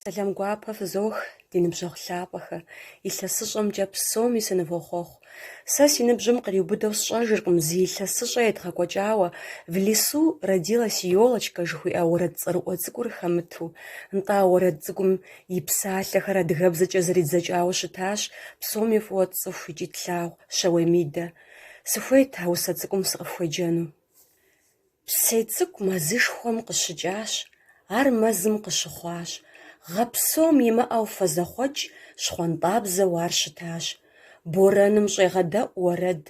Сэлам гуапэ фызох, ди ныбжьэгъу лъапӏэхэ, илъэсыщӏэмкӏэ псоми сынывохъуэхъу. Сэ си ныбжьым къриубыдэу сщӏэжыркъым зы илъэсыщӏэ едгъэкӏуэкӏауэ В лесу родилась елочка жыхуиӏэ уэрэд цӏэрыӏуэ цӏыкӏур хэмыту. Нтӏэ, а уэрэд цӏыкӏум и псалъэхэр адыгэбзэкӏэ зэридзэкӏауэ щытащ псоми фӏыуэ тцӏыху икӏи тлъагъу Щэуей Мидэ. Сыхуейт а усэ цӏыкӏум сыкъыфхуеджэну. Псей цӏыкӏу мэзышхуэм къыщыкӏащ, ар мэзым къыщыхъуащ, гъэ псом имыӏэу фэзэхъуэкӏ щхъуантӏабзэу ар щытащ. Борэным щӏегъэдэӏу уэрэд,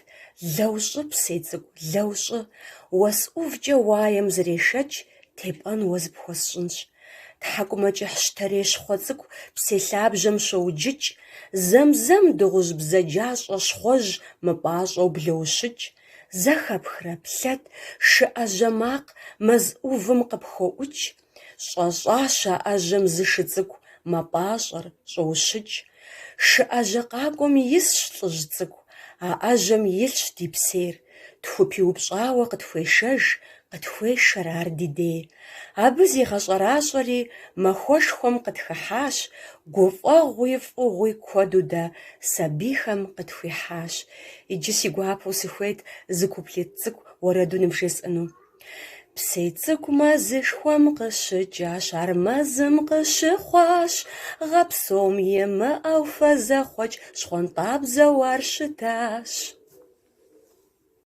лэу щӏы, псей цӏыкӏу, лэу щӏы. Уэс ӏувкӏэ уаем зрешэч, тепӏэн уэ зыпхуэсщӏынщ. Тхьэкӏумэкӏыхь щтэрей щхъуэ цӏыкӏу псей лъабжьэм щоуджыкӏ, зэм-зэм дыгъужь бзаджащӏэ щхъуэжь мыпӏащӏэу блоущыкӏ. Зэхэпхрэ плъэт шы ӏэжьэ макъ мэз ӏувым къыпхоӏукӏ, щӏэщӏащ а ӏэжьэм зы шы цӏыкӏу мэпӏащӏэр, щӏоущыкӏ. Шы ӏэжьэ къакӏуэм исщ лӏыжь цӏыкӏу, а ӏэжьэм илъщ ди псейр, тхупиупщӏауэ къытхуешэж, Къытхуешэр ар ди дей. Абы зигъэщӏэращӏэри махуэшхуэм къытхыхьащ, гуфӏэгъуи фӏыгъуи куэду дэ сабийхэм къытхуихьащ. Иджы си гуапэу сыхуейт зы куплет цӏыкӏу уэрэду ныбжесӏэну. Псей цӏыкӏу мэзышхуэм къыщыкӏащ, ар мэзым къыщыхъуащ, гъэпсом имыӏэу фэ зэхъуэкӏ щхъуантӏабзэу ар щытащ.